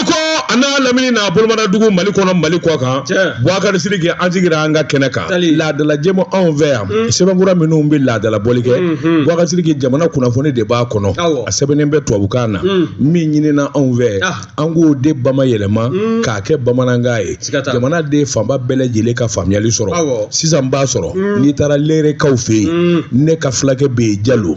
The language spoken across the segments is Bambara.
ko an n'a lamini n'a bolomanadugu mali kɔnɔ mali kɔkan buwakari sidiki an sigira an ka kɛnɛ kan laadalajɛmu anw fɛ yan mm. sɛbɛnkura minnu bɛ laadala bɔli kɛ mm-hmm. buwakari sidiki jamana kunnafoni de b'a kɔnɔ a sɛbɛnnen bɛ tubabukan na mm. min ɲinina anw fɛ ah. an k'o de bamayɛlɛma mm. k'a kɛ bamanankan ye jamanaden fanba bɛɛ lajɛlen ka faamuyali sɔrɔ sisan b'a sɔrɔ n'i taara lerekaw fɛ yen ne ka fulakɛ bɛ yen jalo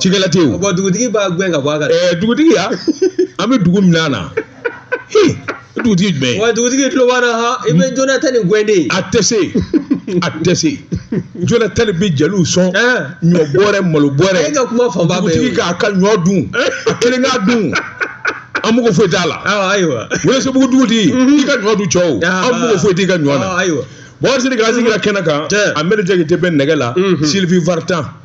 cikɛla tɛ yen o. bon dugutigi b'a gɛn ka bɔ a kan. ɛɛ dugutigiya an bɛ dugu min na na dugutigi jumɛn. wa dugutigi tulo b'an na ha i bɛ jonathan ni gɛn de ye. a tɛ se a tɛ se jonathan bɛ jeliw sɔn ɲɔ bɔrɛ malo bɔrɛ. e ka kuma fanba bɛɛ ye dugutigi k'a ka ɲɔ dun a kelen k'a dun. an mago foyi t'a la. ayiwa welesebugu dugutigi i ka ɲɔ dun cɔ o an mago foyi t'i ka ɲɔ na. ayiwa buwakari sidiki an sigira kɛnɛ kan amɛri jakite bɛ nɛgɛ la sylvie vartan.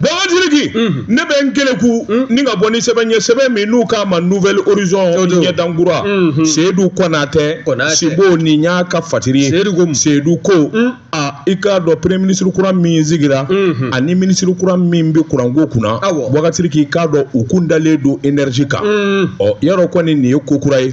Buwakari sidiki ne bɛ n keleku ni ka bɔ ni sɛbɛn ye sɛbɛn min n'u k'a ma nouvel horizon ɲɛdankura seyidu konate sibo nin y'a ka fatiri ye seyidu ko a i k'a dɔn premier ministre kura min sigira ani ministre kura min bɛ kuranko kunna buwakari sidiki i k'a dɔn u kun dalen don énergie kan ɔ yarɔ kɔni nin ye ko kura ye.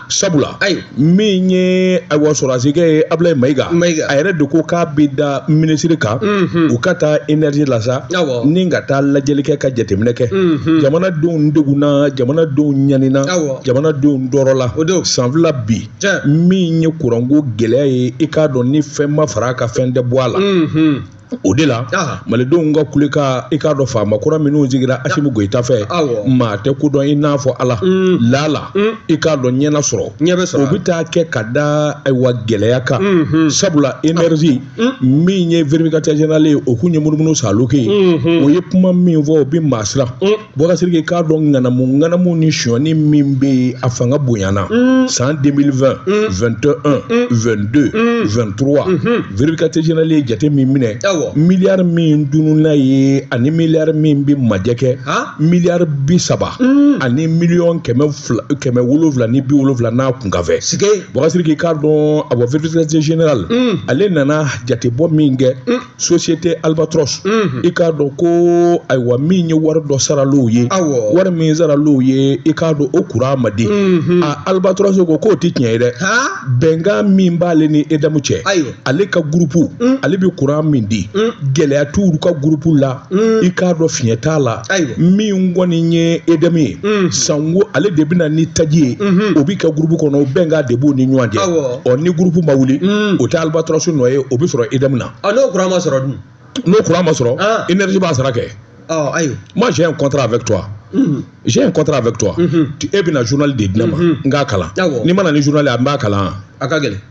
sabula ayi min ye ayiwa sɔrɔdasikɛ ye abulayi mayiga a yɛrɛ de ko k'a bɛ da minisiri kan u ka taa energie la sa ni ka taa lajɛli kɛ ka jateminɛ kɛ jamanadenw degunna jamanadenw ɲanina jamanadenw tɔɔrɔla o don san fila bi min ye kuranko gɛlɛya ye i k'a dɔn ni fɛn ma fara a kan fɛn tɛ bɔ a la o de la malidenw ka kulekan i k'a dɔn faama kura minnu sigira asimu goyita fɛ maa tɛ ko dɔn i n'a fɔ ala mm. laala mm. i k'a dɔn ɲɛna sɔrɔ o bɛ taa kɛ ka da ayiwa gɛlɛya kan mm-hmm. sabula énergie ah. mm. min ye vérificateur général ye o kun ye munumunu salon kɛ mm-hmm. o ye kuma min fɔ o bɛ maa siran buwakari sidiki k'a dɔn ŋanamu ŋanamu ni sonyani min bɛ yen a fanga bonyana mm. san 2020 21 22 23 vérificateur général ye jate min minɛ miliyari min tununna yen ani miliyari min bɛ majɛ kɛ miliyari bi saba mm. ani miliyɔn kɛmɛ wolonwula ni bi wolonwula n'a kunkanfɛn buwakari sidiki k'a dɔn a bɔ vérificateur général mm. ale nana jatebɔ min kɛ société albatros i k'a dɔn ko ayiwa min ye wari dɔ saral'u ye Awɔ. wari min saral'u ye i k'a dɔn o kuran ma di a albatros ko k'o tɛ tiɲɛ ye dɛ han bɛnkan min b'ale ni EDM cɛ Ayiwa. ale ka gurupu ale bɛ kuran min di gɛlɛya t'olu ka gurupu la i k'a dɔn fiɲɛ t'a la Ayiwa. min kɔni ye EDM ye sango ale de bɛ na ni taji ye o bɛ kɛ groupe kɔnɔ o bɛnkan de b'u ni ɲɔgɔn cɛ Awɔ. ɔ ni groupe ma wuli o tɛ Albatros nɔ ye o bɛ sɔrɔ EDM na ɔ n'o kuran ma sɔrɔ dun n'o kuran ma sɔrɔ Ah. énergie b'a sara kɛ ɔ ayiwa moi j'ai un contrat avec toi j'ai un contrat avec toi Tu- e bɛna journal de di ne ma n k'a kalan Awɔ. n'i mana ni journal ye a n b'a kalan a ka gɛlɛn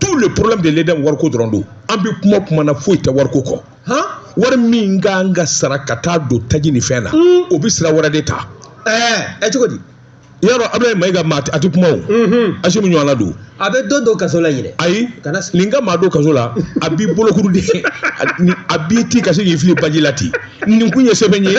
tout le problème de l'EDM wariko dɔrɔn don an bɛ kuma kuma na foyi tɛ wariko kɔ han wari min ka kan ka sara ka taa don taji ni fɛn na o bɛ sira wɛrɛ de ta ɛɛ ɛ cogo di yɔrɔ abulayi mayiga maa a tɛ kuma o asimu ɲɔgɔnna don a bɛ dɔ don kaso la yɛrɛ ayi Kana s- nin ka maa don kaso la a b'i bolokuru de a b'i ti ka se k'i fili baji la ten nin kun ye sɛbɛn ye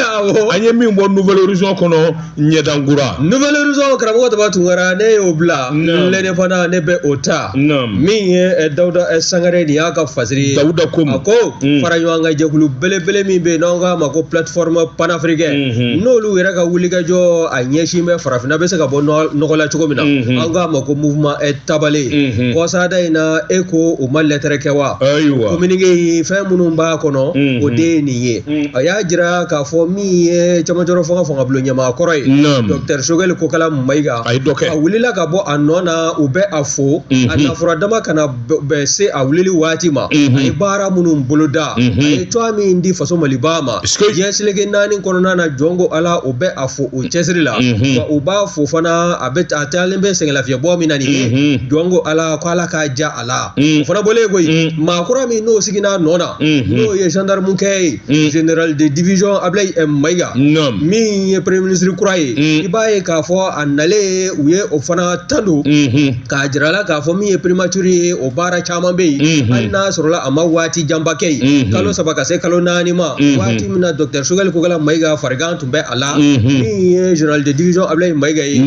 an ye min bɔ Nouvel Horizon kɔnɔ ɲɛdankura Nouvel Horizon karamɔgɔ taba tunkara ne y'o bila lɛnɛ fana ne bɛ o ta min ye eh, dawuda eh, sangare nin y'a ka fasiri ye dawuda ko a ko mm. fara ɲɔgɔn kan jɛkulu belebele min bɛ yen n'an k'a ma ko plateforme panafricaine mm-hmm. n'olu yɛrɛ ka wulikajɔ a ɲɛsin bɛ farafinna bɛ se ka bɔ nɔgɔ la cogo min na mm-hmm. an k'a ma ko mouvement eh, tabale mm-hmm. kɔsada in na e ko u ma lɛtɛrɛ kɛ wa ayiwa communiqué fɛn minnu b'a kɔnɔ o de ye nin ye a y'a jira k'a fɔ min ye camancɛrɔ fanga fanga bulon ɲɛmaa kɔrɔ ye docteur sogɛli kokala mayiga a ye dɔ kɛ a wulila ka bɔ a nɔ na u bɛ a fo a nafura dama kana bɛn se a wulili waati ma a ye baara minnu boloda a ye cogoya min di faso maliba ma diɲɛ seleke naani kɔnɔna na jɔnko ala o bɛ a fo o cɛsiri la wa u b'a fo fana a bɛ a taalen bɛ sɛgɛnlafiɲɛbɔ min na nin ye jɔnko ala ko ala k'a ja a la mm. o fana bɔlen koyi mm. maa kura min n'o sigina nɔ na mm-hmm. n'o ye gendarme kɛ ye mm. général de division ablayi eh, mayiga min ye premier ministre kura ye i b'a ye k'a fɔ a nalen u ye o fana tando mm-hmm. k'a jira a la k'a fɔ min ye primature ye o baara caman bɛ yen mm-hmm. hali n'a sɔrɔla a ma waati janba kɛ yen kalo saba ka se kalo naani ma waati min na docteur sogɛli kokala mayiga farigan tun bɛ a la min ye général de division ablayi mayiga ye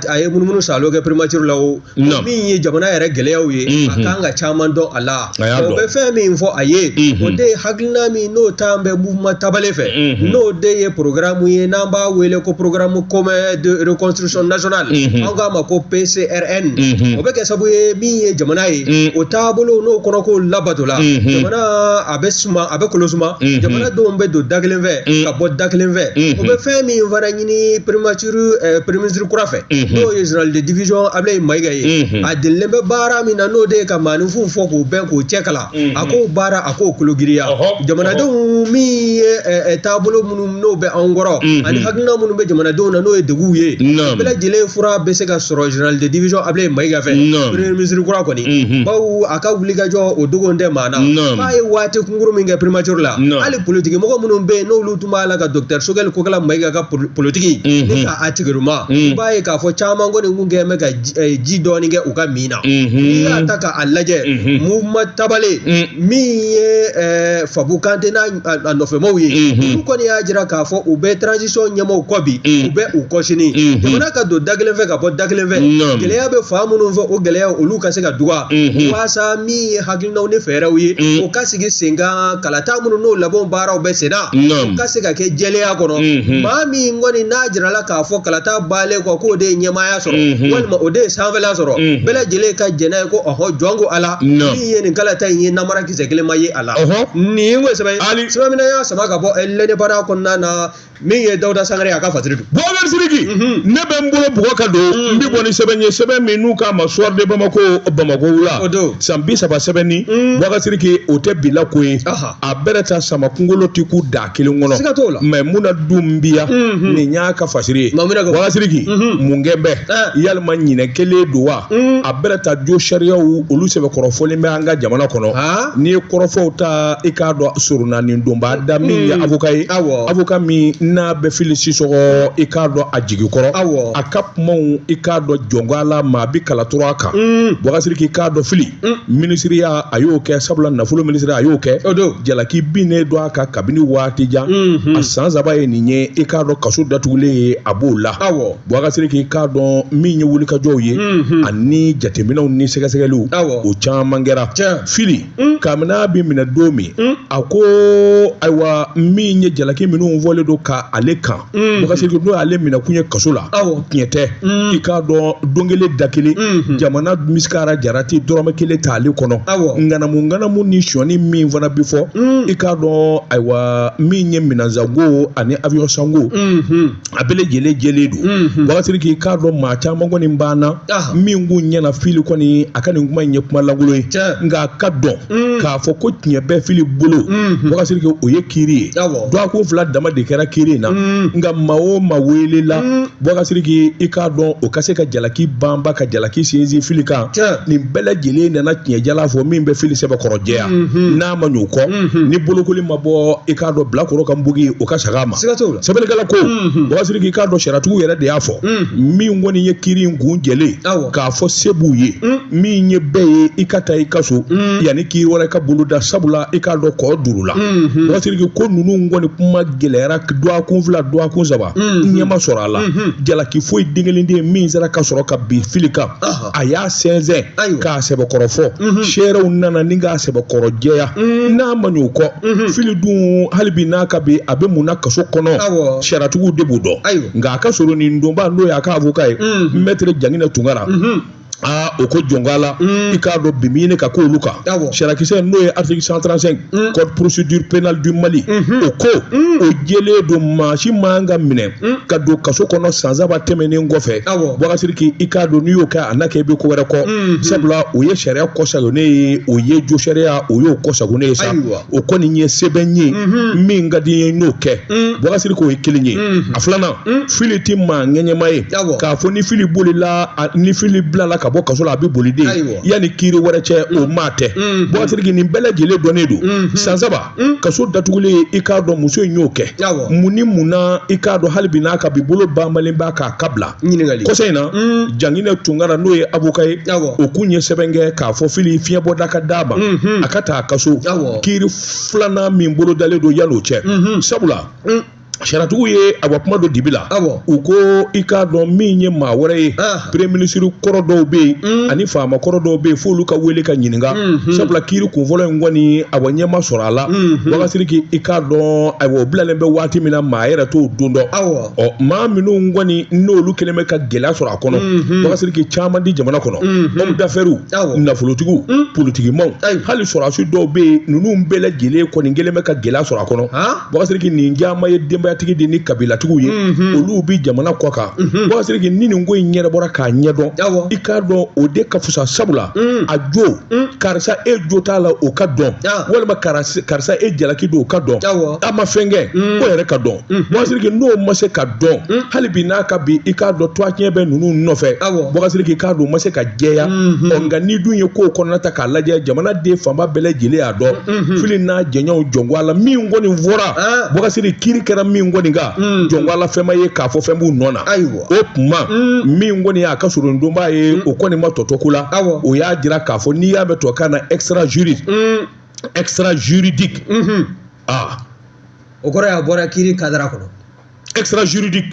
a ye munumunu salo kɛ primature la o Naamu. min ye jamana yɛrɛ gɛlɛyaw ye a Mhm. kan ka caman dɔn a la A y'a o dɔn. bɛ fɛn min fɔ a ye Mhm. o de ye hakilina min n'o tun bɛ mouvement tabale fɛ Mhm. n'o de ye programme ye n'an b'a wele ko programme commun de reconstruction nationale Mhm. an k'a ma ko PCRN Mhm. o bɛ kɛ sabu ye min ye jamana ye Mhm. o taabolo n'o kɔnɔko labatola Mhm. jamana a bɛ suma a bɛ kolo suma Mhm. jamana denw bɛ don da kelen fɛ Mhm. ka bɔ da kelen fɛ Mhm. o bɛ fɛn min fana ɲini primature eh, premier ministre kura fɛ n'o ye general de division Ablaye Mayiga ye a delilen bɛ baara min na n'o de ye ka maaninfinw fɔ k'u bɛn k'u cɛ kalan a k'o baara a k'o kologiriya jamanadenw min ye eh, eh, taabolo minnu n'o bɛ anw kɔrɔ ani hakilina minnu bɛ jamanadenw na n'o ye deguw ye bɛɛ lajɛlen fura bɛ se ka sɔrɔ general de division Ablaye Mayiga fɛ premier ministre kura kɔni bawo a ka wulikajɔ o dogon tɛ maa na k'a ye waati kunkurun min kɛ primature la hali politikimɔgɔ minnu bɛ yen n'olu tun b'a la ka docteur Sogɛli Kokala Mayiga ka politiki mhm. ni ka a tigiruma mhm. i b'a ye k'a fɔ caman kɔni kun kɛn bɛ ka eh, ji dɔɔni kɛ u ka min na mhm. n'i y'a ta k'a lajɛ mouvement Tabale min ye eh, Fabu Kante n'a nɔfɛmaw ye olu kɔni y'a jira k'a fɔ u bɛ transition ɲɛmɔgɔw kɔ bi u bɛ u kɔsini jamana ka don da kelen fɛ ka bɔ da kelen fɛ gɛlɛya bɛ fan minnu fɛ o gɛlɛya olu ka se ka dɔgɔya walasa min ye hakili hakilinaw ni fɛɛrɛw ye mm. o ka sigi sen kan kalata minnu n'o labɛnw baaraw bɛ senna o ka se ka kɛ jɛlenya kɔnɔ mm-hmm. maa min kɔni n'a jirala k'a fɔ kalata bannen kɔ k'o de ye ɲɛmaaya sɔrɔ mm-hmm. walima o de ye sanfɛla sɔrɔ mm-hmm. bɛɛ lajɛlen ka jɛn n'a ye ko ɔhɔ jɔnko Ala min ye nin kalata in ye namara kisɛ kelen ma ye a la nin ye n ko sɛbɛn sɛbɛn min y'a sama ka bɔ l'Indépendant kɔnɔna na min ye Dawuda Sangare ye a ka fasiri don Boubacar Sidiki mhm. ne bɛ n bolo bugɔ ka don mhm. n bɛ bɔ ni sɛbɛn ye sɛbɛn min n'u k'a ma Soir de Bamako Bamako wula san bi saba sɛbɛnni mhm. Boubacar Sidiki o tɛ bila ko ye a bɛrɛ ta sama kungolo ti kun da kelen kɔnɔ siga t'o la mais mun na dun biya nin y'a ka fasiri ye Boubacar Sidiki mun kɛ bɛ eh. yala maa ɲinɛ kɛlen don wa a bɛrɛ ta josariyaw olu sɛbɛkɔrɔfɔlen bɛ an ka jamana kɔnɔ n'i ye kɔrɔfɔw ta i k'a dɔn soronadonbaa da min ye hmm. avocat ye avocat min n'a bɛ Fili Sisɔkɔ i k'a dɔn a jigi kɔrɔ a ka kumaw i k'a dɔn jɔnko Ala maa bi kalatura a kan Boubacar Sidiki k'a dɔn Fili hmm. minisiriya a y'o kɛ sabula nafolo minisiriya a y'o kɛ jalaki binnen don a kan kabini waati jan hmm. a san saba ye nin ye i k'a dɔn kaso datugulen ye a b'o la Boubacar Sidiki k'a dɔn min ye wulikajɔw ye ani jateminɛw ni sɛgɛsɛgɛliw o caman kɛra Fili kabini a bɛ minɛ don min a ko ayiwa min ye jalaki minnu fɔlen don k'ale kan n'o y'ale minɛkun ye kaso la tiɲɛ tɛ i k'a dɔn don kelen da kelen jamana misikara jarati dɔrɔmɛ kelen t'ale kɔnɔ ŋanamuŋanamu ni sonyani min fana bɛ fɔ i k'a dɔn ayiwa min ye minɛn sanko ani avion sanko a bɛɛ lajɛlen jɛlen don mhm. Boubacar Sidiki k'a dɔn maa caman kɔni banna ah. min k'u ɲɛna Fili kɔni a ka nin kuma in ye kuma lankolon ye nka a ka dɔn mm. k'a fɔ ko tiɲɛ bɛ Fili bolo mhm. Boubacar Sidiki o ye kiiri ye dɔgɔkun fila dama de kɛra kiiri in na mm. nka maa o maa welela mm. Boubacar Sidiki i k'a dɔn o ka se ka jalaki banba ka jalaki sinsin Fili kan nin bɛɛ lajɛlen nana tiɲɛjala fɔ min bɛ Fili sɛbɛkɔrɔ jɛya mhm. n'a ma ɲ'o kɔ ni bolokoli ma bɔ i k'a dɔn bilakoro ka npogo o ka sagin a ma sɛbɛnnikɛla ko Boubacar Sidiki i k'a dɔn sariyatigiw yɛrɛ de y'a fɔ min kɔni ye kiri in kun jɛlen k'a fɔ se b'u ye min ye bɛɛ ye i ka taa i ka so yanni kiri wɛrɛ ka boloda sabula i k'a dɔn kɔ duuru la Boubacar Sidiki ko ninnu kɔni kuma gɛlɛyara dɔgɔkun fila dɔgɔkun saba ɲɛ ma sɔrɔ a la jalaki foyi den kelen den min sera ka sɔrɔ ka bin fili kan a y'a sɛnsɛn k'a sɛbɛkɔrɔ fɔ seerew nana ni k'a sɛbɛkɔrɔ jɛya n'a ma ɲ'o kɔ fili dun hali bi n'a ka bi a bɛ mun na kaso kɔnɔ sariyatigiw de b'o dɔn nka a ka soronadonbaa n'o y'a ka avoka ye mɛtiri jangina tunkara aa o ko jɔn ko Ala i k'a dɔn bi min ka k'olu kan sariyakisɛ n'o ye article 135 code procédure pénale du Mali o ko o jɛlen don maa si man ka minɛ Hmm? ka don kaso kɔnɔ san saba tɛmɛnen kɔfɛ Boubacar Sidiki i k'a dɔn n'i y'o kɛ a na kɛ i bɛ ko wɛrɛ kɔ hmm, hmm. sabula o ye sariya kɔsagonnen ye o ye josariya o y'o kɔsagonnen ye sa o kɔni ye sɛbɛn ye min ka di n ye n'o kɛ Boubacar Sidiki o ye kelen ye a filanan fili tɛ maa ŋɛɲɛma ye k'a fɔ ni fili bolila ni fili bilala ka bɔ kaso la a bɛ boli dɛ yanni kiiri wɛrɛ cɛ o maa tɛ Boubacar Sidiki nin bɛɛ lajɛlen dɔnnen don san saba Hmm? kaso datugulen i k'a dɔn muso in y'o kɛ mun ni mun na i k'a dɔn hali bi n'a ka bi bolo banbalen b'a k'a ka bila kɔsa in na hmm. jangina tunkara n'o ye avoka ye o kun ye sɛbɛn kɛ k'a fɔ fili fiɲɛbɔda ka d'a ma hmm, a ka taa a ka so kiri filanan min bolodalen don yan'o cɛ sabula sariyatigiw ye a ka kuma don dibi la u ko i k'a dɔn min ye maa wɛrɛ ye premier minisiri kɔrɔ dɔw bɛ yen mm. ani faama kɔrɔ dɔw bɛ yen f'olu ka wele ka ɲininka mm-hmm. sabula kiiri kunfɔlɔ in kɔni awa ɲɛ ma sɔrɔ a la mm-hmm. Boubacar Sidiki i k'a dɔn ayiwa o bilalen bɛ waati min na maa yɛrɛ t'o don dɔn ɔ maa minnu kɔni n'olu kɛlen bɛ ka gɛlɛya sɔrɔ a kɔnɔ mm-hmm. Boubacar Sidiki caman di jamana kɔnɔ homme d'affaires nafolotigiw mm. politikimaw hali sɔrɔdasi dɔw bɛ yen ninnu bɛɛ lajɛlen kɔni kɛlen bɛ ka gɛlɛya sɔrɔ a kɔnɔ Boubacar Sidiki nin caman ye denbayatigi de ni kabilatigiw ye olu bɛ jamana kɔ kan Boubacar Sidiki ni nin ko in ɲɛnabɔra k'a ɲɛdɔn i k'a dɔn o de ka fisa sabula a jo karisa e jo t'a la o ka dɔn walima karisa e jalaki don o ka dɔn a ma fɛnkɛ ko yɛrɛ ka dɔn Boubacar Sidiki n'o ma se ka dɔn hali bi n'a ka bi i k'a dɔn tɔgɔtiɲɛ bɛ ninnu nɔfɛ Boubacar Sidiki i k'a dɔn o ma se ka jɛya nka n'i dun ye ko kɔnɔna ta a lajɛ jamanaden fanba bɛɛ lajɛlen y'a dɔn fili n'a jɛɲɔgɔnw jɔn ko Ala min kɔni fɔra Boubacar Sidiki kiri kɛra min kɔni kan jɔn ko Ala fɛn ma ye k'a fɔ fɛn b'u nɔ na o tuma min kɔni y'a ka soronadonbaa ye o kɔni ma tɔ to ko la o y'a jira k'a fɔ n'i y'a mɛn tubabukan na extra juri extra juridique aa o kɔrɔ y'a bɔra kiri kadara kɔnɔ extra juridique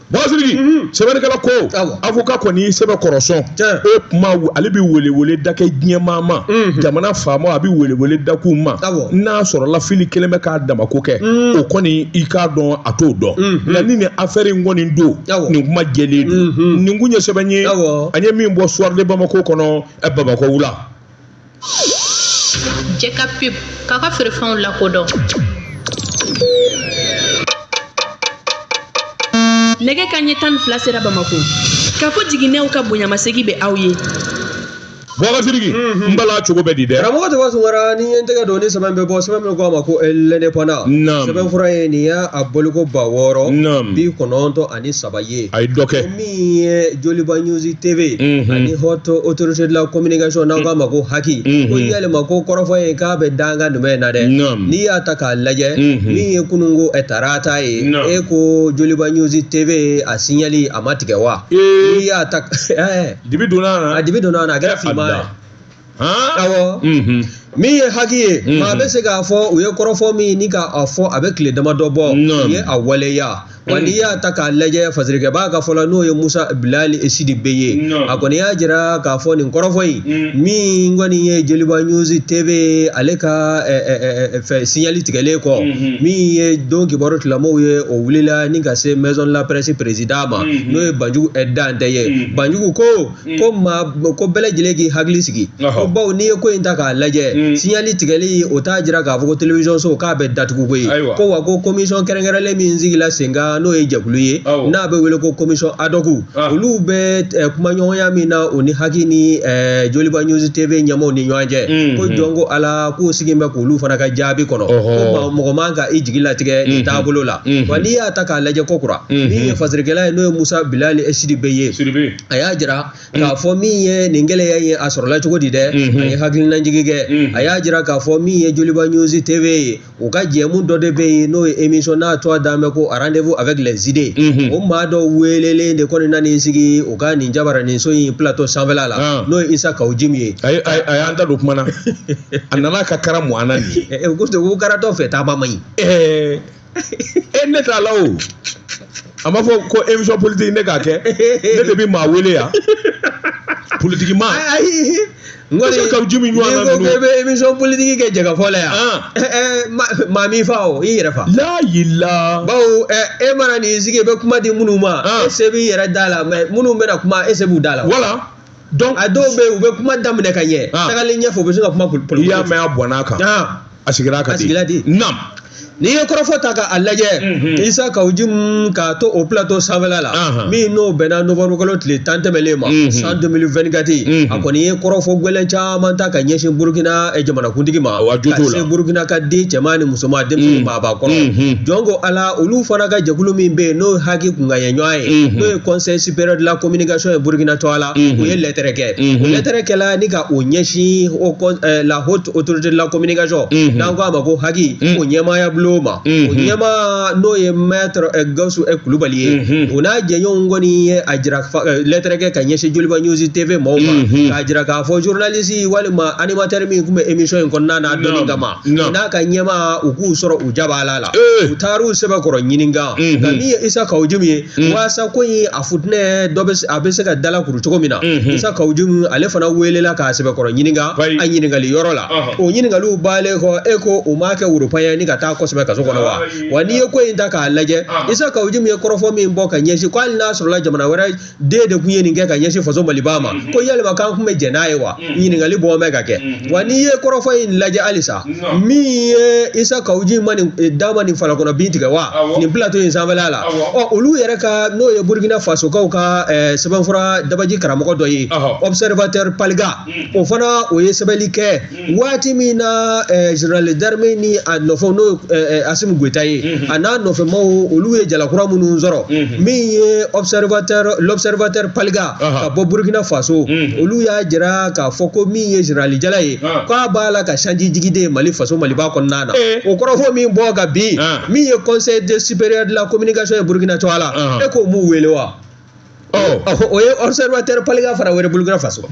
bɔsiriki mhm. sɛbɛnnikɛla ko avocat kɔni sɛbɛkɔrɔ sɔn o kuma ale bɛ welewele da kɛ diɲɛmaa ma mhm. jamana faama a bɛ welewele da k'u ma n'a sɔrɔla fili kelen bɛ k'a damako kɛ mhm. o kɔni i k'a dɔn a t'o dɔn nka ni nin afɛri in kɔni don nin kuma jɛlen don nin kun ye sɛbɛn ye an ye min bɔ soir de bamako kɔnɔ bamako wula. jɛ ka pub k'a ka feerefɛnw lakodɔn nɛgɛ kanɲɛ tan ni fila sera bamako kafo jiginɛw ka bonyamasegin bɛ aw ye bɔgɔ sidiki n bala cogo bɛ di dɛ karamɔgɔ tɔgɔ sunkara ni ye n tɛgɛ don ni sɛbɛn bɛ bɔ sɛbɛn min ko a ma ko l'indépendant Naam. sɛbɛn fura ye nin y'a a bɔliko ba wɔɔrɔ Naam. bi kɔnɔntɔn ani saba ye a ye dɔ kɛ min ye joliba news tv mhm. ani haute autorité de la communication n'aw k'a ma ko haki mhm. ko yalima ko kɔrɔfɔ ye k'a bɛ dankan jumɛn na dɛ n'i y'a ta k'a lajɛ mhm. min ye kununko tarata ye e ko joliba news tv a signali a ma tigɛ wa n'i y'a ta dibi donna a na a dibi donna a na a kɛra finman ye min ye haki ye maa bɛ se k'a fɔ u ye kɔrɔfɔ min ni k'a fɔ a bɛ tile dama dɔ bɔ u ye a waleya wa n'i y'a ta k'a lajɛ fasirikɛbaa ka fɔ la n'o ye musa bilali sidibe ye a kɔni y'a jira k'a fɔ nin kɔrɔfɔ in min kɔni ye joliba news tv ale ka fɛ signali tigɛlen kɔ min ye don kibaru tilamɔw ye o wulila ni ka se maison de la presse président ma n'o ye banjugu dantɛ ye banjugu ko ko maa ko bɛɛ lajɛlen k'i hakili sigi ko bawo n'i ye ko in ta k'a lajɛ signali tigɛli o t'a jira k'a fɔ ko telewisɔn so k'a bɛ datugu koyi ko wa ko komisɔn kɛrɛnkɛrɛnlen min sigila senkan n'o ye jɛkulu ye n'a bɛ wele ko commission ad hoc olu bɛ kumaɲɔgɔnya min na o ni haki ni joliba news tv ɲɛmɔgɔw ni ɲɔgɔn cɛ ko jɔn ko ala k'u sigi bɛ k'olu fana ka jaabi kɔnɔ ko mɔgɔ man ka i jigi latigɛ nin taabolo la wa n'i y'a ta k'a lajɛ kokura min ye fasirikɛla ye n'o ye musa bilali sidibe ye a y'a jira k'a mm. fɔ min ye nin gɛlɛya ye a sɔrɔla cogo di dɛ mm-hmm. a ye hakilinajigi kɛ mm-hmm. a y'a jira k'a fɔ min ye joliba news tv ye u ka jɛmu dɔ de bɛ yen n'o ye émission n'a tɔgɔ dalen bɛ ko rendez-vous avec les idées mm-hmm. o maa dɔ welelen de kɔni nana i sigi u ka nin jabaraninso in plateau sanfɛla la ah. n'o ye isa kawu jim ye a y'a da don kuma na a nana ka kara mu an na nin ye ko karatɔ fɛ taama man ɲi e ne t'a la o a ma fɔ ko émission politique ne k'a kɛ ne de bɛ maa wele yan politiki ma ayi n Parce que kawu jim ɲɔgɔnna n'i ko ninnu. k'i bɛ émission politique kɛ jɛkafɔ la yan Ah. ɛ ɛ ma- maa m'i fa o i yɛrɛ fa n'a y'i la bawo ɛ e mana n'i sigi i bɛ kuma di minnu ma Ah. e se b'i yɛrɛ da la mais minnu bɛna kuma e se b'u da la wala donc a dɔw bɛ yen u bɛ kuma daminɛ ka ɲɛ ah. tagalen ɲɛfɛ u bɛ se ka kuma politiki n'i y'a mɛn a bɔnna a kan ah. a sigira ka di a sigira di naam n'i ye kɔrɔfɔ ta k'a lajɛ mhm. isa kawujimu k'a to o plateau sanfɛla la min n'o bɛnna novembre kalo tile tan tɛmɛlen ma mhm. san 2024 mhm. a kɔni ye kɔrɔfɔ gwɛlɛn caman ta ka ɲɛsin burukina eh, jamanakuntigi ma ka se burukina ka den cɛman ni musoman denmisɛnnin maabakɔrɔ jɔn ko ala olu fana ka jɛkulu min bɛ yen n'o HAC kunkanɲɛ ɲɔgɔn ye n'o ye conseil supérieur de la communication ye burkina tɔgɔ la u ye lɛtɛrɛ kɛ o lɛtɛrɛ kɛla ni ka o ɲɛsin o kɔ- eh, la haute autorité de la communication n'an ko a ma ko HAC o ɲɛmaaya bulon ma o ɲɛmaa n'o ye maître eh, gawusu eh, kulubali ye o n'a jɛɲɔgɔnw kɔni ye a jira fa- eh, lɛtɛrɛ kɛ ka ɲɛsin joliba news tv maaw ma k'a jira k'a fɔ journaliste walima animateur min tun bɛ émission in kɔnɔna na a dɔnni Naam, kama naam. o n'a ka ɲɛmaa u k'u sɔrɔ u jabaala la Eh. u taar'u sɛbɛkɔrɔ ɲininka nka min ye isa kawujimu ye Mm. waasa ko in a futinɛ de a bɛ se ka dalakuru cogo min na mm-hmm. isa kawujimu ale fana weelela k'a sɛbɛkɔrɔ ɲininka a ɲininkali yɔrɔ la uh-huh. o ɲininkaliw baalen kɔ e ko u m'a kɛ woropanya ni ka taa kosɛbɛ kaso kɔnɔ wa wa n'i ye ko in ta k'a lajɛ uh-huh. isa kawujimu ye kɔrɔfɔ min bɔ ka ɲɛsin ko hali n'a sɔrɔla jamana wɛrɛ den de tun ye nin kɛ ka ɲɛsin faso maliba ma mm-hmm. ko yalima k'an tun bɛ jɛn n'a ye wa ɲininkali bɔ bɛ ka kɛ wa n'i ye kɔrɔfɔ in lajɛ halisa min ye isa kawuji ma nin eh, dan ma nin fala kɔnɔ bin tigɛ wa nin plateau in sanfɛla la ɔ olu yɛrɛ ka n'o ye burkina fasokaw ka eh, sɛbɛnfura dabaji karamɔgɔ dɔ ye observateur paalga mm. o fana o ye sɛbɛnli kɛ mm. waati min na eh, général d'armée ni a nɔfɛw n'o asimi goyita ye mm-hmm. a n'a nɔfɛmaw olu ye jalakura minnu sɔrɔ mm-hmm. min ye observateur l'observateur paalga ka bɔ burukina faso olu y'a jira k'a fɔ ko min ye général jala ye k'a b'a la ka sanji jigin de mali faso maliba kɔnɔna na o kɔrɔfɔ min bɔ ka bin min ye conseil de supérieur de la communication ye burukina tɔgɔ la e k'o m'u wele wa o ye observateur paalga fana wele burukina faso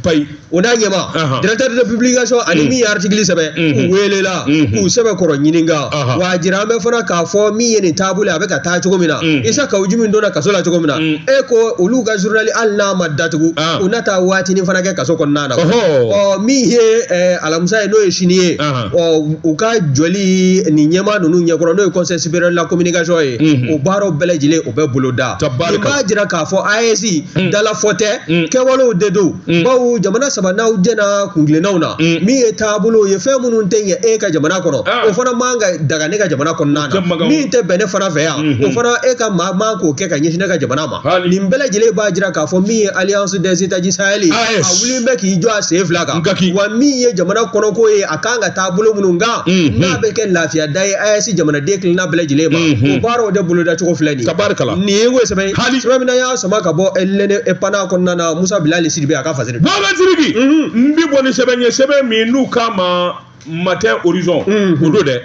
o n'a ɲɛmaa Ahan. directeur de publication ani min ye article sɛbɛn Mhm. u welela Mhm. k'u sɛbɛkɔrɔ ɲininka Ahan. wa a jira an bɛ fana k'a fɔ min ye nin taabolo ye a bɛ ka taa cogo min na Mhm. isa kawujimu donna kaso la cogo min na Mhm. e ko olu ka journal hali n'a ma datugu Ah. u na taa waatinin fana kɛ kaso kɔnɔna na Ɔhɔ. ɔ min ye eh, alamisa ye n'o ye sini ye Ahan. ɔ u ka jɔli nin ɲɛmaa ninnu ɲɛkɔrɔ n'o ye conseil supérieur de la communication ye Mhm. o baaraw bɛɛ lajɛlen o bɛ boloda Tabarika. nin b'a jira k'a fɔ AES Mhm. dalafɔ tɛ Mhm. kɛwalew de don Mm. bawo jamana saba n'aw jɛnna kuntilennaw na mm. min ye taabolo ye fɛn minnu tɛ ɲɛ e ka jamana kɔnɔ ah. o fana man ka daga ne ka jamana kɔnɔna na min tɛ bɛn ne fana fɛ yan mm-hmm. o fana e ka maa man k'o kɛ ka ɲɛsin ne ka jamana ma nin bɛɛ lajɛlen b'a jira k'a fɔ min ye alliance des états du sahel ye ah, a wulilen bɛ k'i jɔ a sen fila kan wa min ye jamana kɔnɔko ye a kan ka taa bolo minnu kan mm-hmm. n'a bɛ kɛ lafiya da ye AES jamanaden kelenna bɛɛ lajɛlen ma mm-hmm. o baaraw de boloda cogo filɛ nin ye nin ye ko sɛbɛ ye sɛbɛn min na y'a sama ka bɔ l'indépendant kɔnɔna na musa bilali sidibe a ka fasiri bagasiriki n bi bɔ ni sɛbɛn ye sɛbɛn min n'u k'a ma matin horizon o don dɛ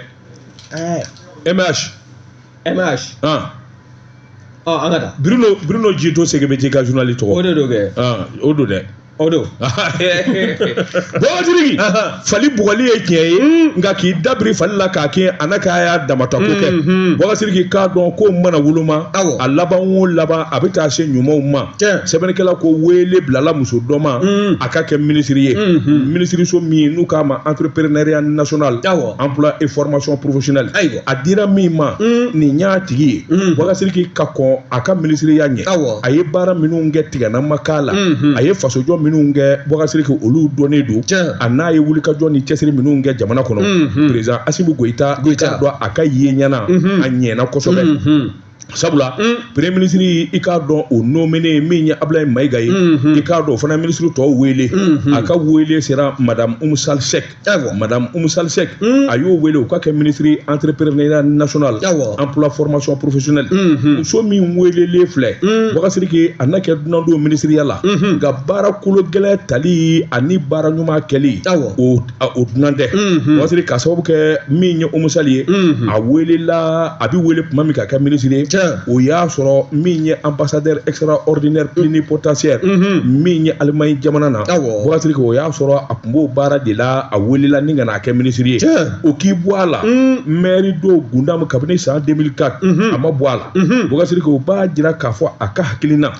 mh mh ɔ an ka taa bruno bruno jito segebɛji ka journali tɔgɔ o de don kɛ o don dɛ o don bagasiriki fali bugɔli ye tiɲɛ ye nka k'i dabiri fali la k'a kin a na k'a y'a damata ko kɛ bagasiriki k'a dɔn ko mana woloma a laban o laban a bɛ taa se ɲumanw ma sɛbɛnnikɛla ko wele bilala muso dɔ ma a ka kɛ minisiri ye minisiriso min n'u k'a ma entrepreneuriat national emploi et formation professionnelle a dira min ma nin y'a tigi ye bagasiriki ka kɔn a ka minisiriya ɲɛ Awɔ. a ye baara minnu kɛ tigɛnama k'a la a ye fasojɔ minnu kɛ bagasiriki olu dɔnnen don Tiɲɛ. a n'a ye wulikajɔ ni cɛsiri minnu kɛ jamana kɔnɔ perezan asimi goyita Goyita. k'a dɔn a ka ye ɲɛna a ɲɛna kosɛbɛ sabula premier minisiri i k'a dɔn o nomenen min ye abulayi mayiga ye i k'a dɔn o fana minisiri tɔw wele a ka wele sera madame umu sal sek madame umu sal sek a y'o wele o ka kɛ minisiri entrepreneuriat national emploi formation professionnelle muso min welelen filɛ bagasiriki a na kɛ dunan don minisiriya la nka baara kolo gɛlɛn tali ani baara ɲuman kɛli o a o dunan tɛ bagasiriki k'a sababu kɛ min ye umu sali ye a welela a bɛ wele tuma min k'a kɛ minisiri ye o y'a sɔrɔ min ye ambassadeur extraordinaire plénipotentiaire min ye alimaɲi jamana na bagasiriki o y'a sɔrɔ a tun b'o baara de la a welela ni ka na a kɛ minisiri ye o k'i bɔ a la mɛri de gundamu kabini san 2004 a ma bɔ a la bagasiriki o b'a jira k'a fɔ a ka hakilina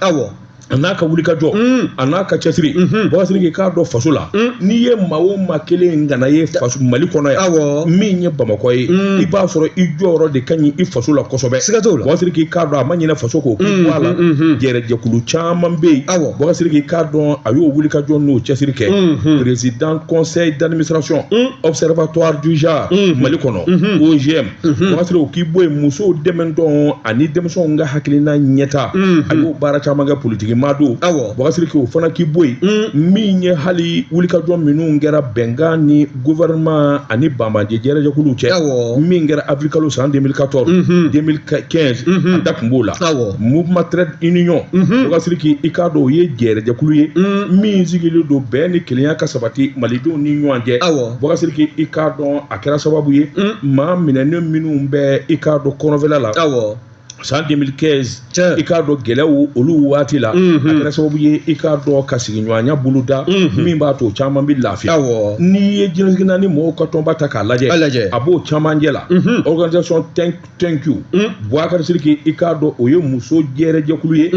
a n'a ka wulikajɔ a n'a ka cɛsiri bagasiriki k'a dɔn faso la n'i ye maa o maa kelen kana ye faso mali kɔnɔ yan awɔ min ye bamakɔ ye i b'a sɔrɔ i jɔyɔrɔ de ka ɲi i faso la kosɛbɛ siga t'o la bagasiriki k'a dɔn a ma ɲinɛ faso kɔ o k'i bɔ a la jɛrɛjɛkulu caman bɛ yen awɔ bagasiriki k'a dɔn a y'o wulikajɔ n'o cɛsiri kɛ président conseil d'administration observatoire du genre mali kɔnɔ OGM bagasiriki o k'i bɔ yen musow dɛmɛntɔn ani denmisɛnw ka hakilina ɲɛta a y'o baara caman kɛ politiki maa don bagasiriki o fana k'i bɔ yen min ye hali wulikajɔ minnu kɛra bɛnkan ni gouvernement ani banbaanci jɛrɛjɛkuluw cɛ min kɛra avril kalo san 2014 2015 a da tun b'o la mouvement trait d'union bagasiriki i k'a dɔn o ye jɛrɛjɛkulu ye min sigilen don bɛn ni kelenya ka sabati malidenw ni ɲɔgɔn cɛ bagasiriki i k'a dɔn a kɛra sababu ye maa minɛnen minnu bɛ i k'a dɔn kɔrɔnfɛla la awɔ san 2015 Tiɲɛ. i k'a dɔn gɛlɛyaw olu waati la a kɛra sababu ye i k'a dɔn ka sigiɲɔgɔnya boloda min b'a to o caman bɛ lafiya awɔ n'i ye diɲɛ seleke naani mɔgɔw ka tɔnba ta k'a lajɛ A lajɛ. a b'o camancɛ la organisation tɛn thank you buwakari siriki i k'a dɔn o ye muso jɛrɛjɛkulu ye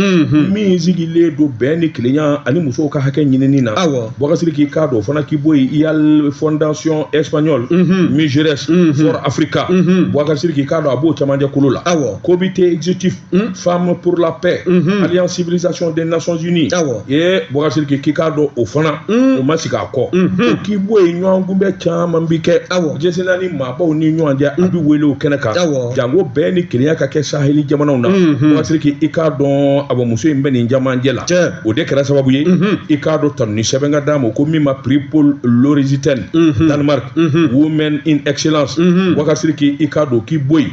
min sigilen don bɛn ni kelenya ani musow ka hakɛ ɲinini na Awɔ. buwakari siriki i k'a dɔn o fana k'i bɔ yen Yale fondation espagnole Mujeres for africa buwakari siriki i k'a dɔn a b'o jama jɛkulu la Awɔ. comité exécutif Hmm? Femme pour la paix, mhm. Alliance Civilisation des Nations Unies. Ah Et Bokasiriki i k'a dɔn o fana, hmm? o ma sigi a kɔ. Mhm. K'i bɔ yen ɲɔgɔn kunbɛn caman bi kɛ. Ah Jɛsina ni maabaw ni ɲɔgɔn cɛ, a bi hmm? wele o kɛnɛ kan. Ah Jango bɛn ni kelenya ka kɛ saheli jamanaw na. Bokasiriki mhm. i k'a dɔn an bamuso in bɛ nin jamajɛ la. O de kɛra sababu ye, i k'a dɔn tanuni sɛbɛn ka d'a ma ko min ma prix Poul Lauritzen, Danemark, Women in Excellence. Bokasiriki i k'a dɔn k'i bɔ yen.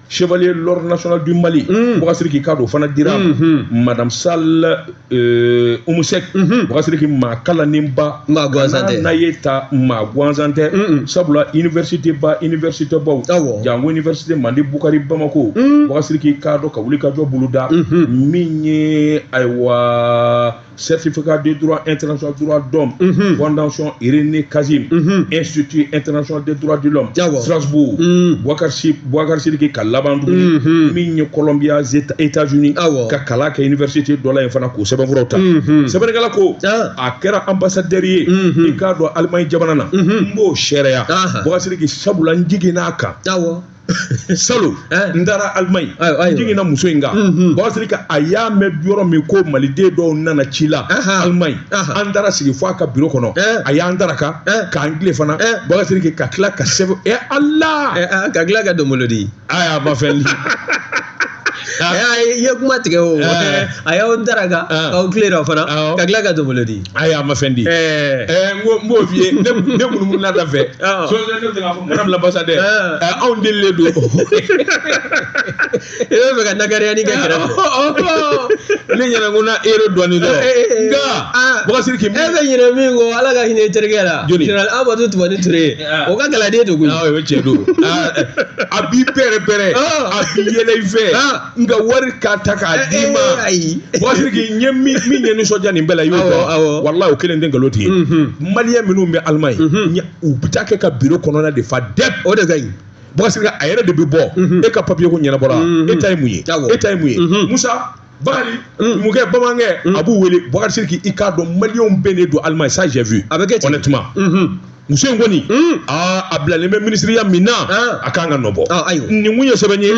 chevalier l'ordre national du mali bokasiriki i k'a dɔn o fana dira madame Sall Oumou Seck bokasiriki maa kalanninba Maa gansan tɛ. n'a ye ta maa gansan tɛ sabula université ba université baw Awɔ. jango université mande bukari bamako bokasiriki i k'a dɔn ka wuli ka jɔ boloda min ye ayiwa certificat de droit international droits de l'homme mhm. fondation René Cassin mhm. institut international des droits de l'homme Strasbourg mhm. Bouakar Bouakar Sidiki ka laban tugu ni min ye Columbia États-Unis ka kalan kɛ université dɔ la yen fana k'o sɛbɛnfuraw ta sɛbɛnnikɛla ko ah. a kɛra ambassadeur ye i k'a dɔn Allemagne jamana na n b'o seereya Bouakar Sidiki sabula n jiginn'a kan salon eh? n taara Allemagne n jiginna muso in kan mhm. bokasiriki a y'a mɛn yɔrɔ min ko maliden dɔw nana ci la Allemagne an taara sigi fo a ka biro kɔnɔ eh? a y'an daraka eh? k'an tile fana bokasiriki ka tila ka sɛbɛn ɛ ala ka tila ka donbolo di ayi a ma fɛn i ye kuma tigɛ o a y'aw daraka k'aw tilelafana ka tila ka donbolo di ayi a ma fɛn di n b'o f'i ye ne munumununa da fɛ sɔɔni ne bɛ k'a fɔ madame l'ambassadeur anw delilen don i bɛ fɛ ka nakariyani kɛ kɛrɛfɛ ne ɲɛna ko na euro dɔɔni dɔn nka bɔgɔsiriki e bɛ ɲinɛ min kɔ ala ka hinɛ i terikɛ la général amadu tumani ture o ka kalanden don koyi o ye tiɲɛ don a b'i bɛrɛ bɛrɛ a bi yɛlɛ i fɛ nka wari ka ta k'a d'i ma bɔkasiriki i ɲɛ min min ye nisɔndiya nin bɛɛ la i y'o dɔn walayi o kelen n tɛ nkalon tigɛ maliyɛn minnu bɛ Allemagne u bɛ taa kɛ ka biro kɔnɔna de fa dɛ o de ka ɲi bɔkasiri a yɛrɛ de bɛ bɔ e ka papiye ko ɲɛnabɔra e ta ye mun ye e ta ye mun ye musa Bakari numukɛ bamanankɛ a b'u wele Bakari Sidiki i k'a dɔn maliyɛnw bɛɛ de don Allemagne ça j'avoue a bɛ kɛ ten honnêtement muso in kɔni aa a bilalen bɛ minisiriya min na a kan ka nɔ bɔ nin kun ye sɛbɛn ye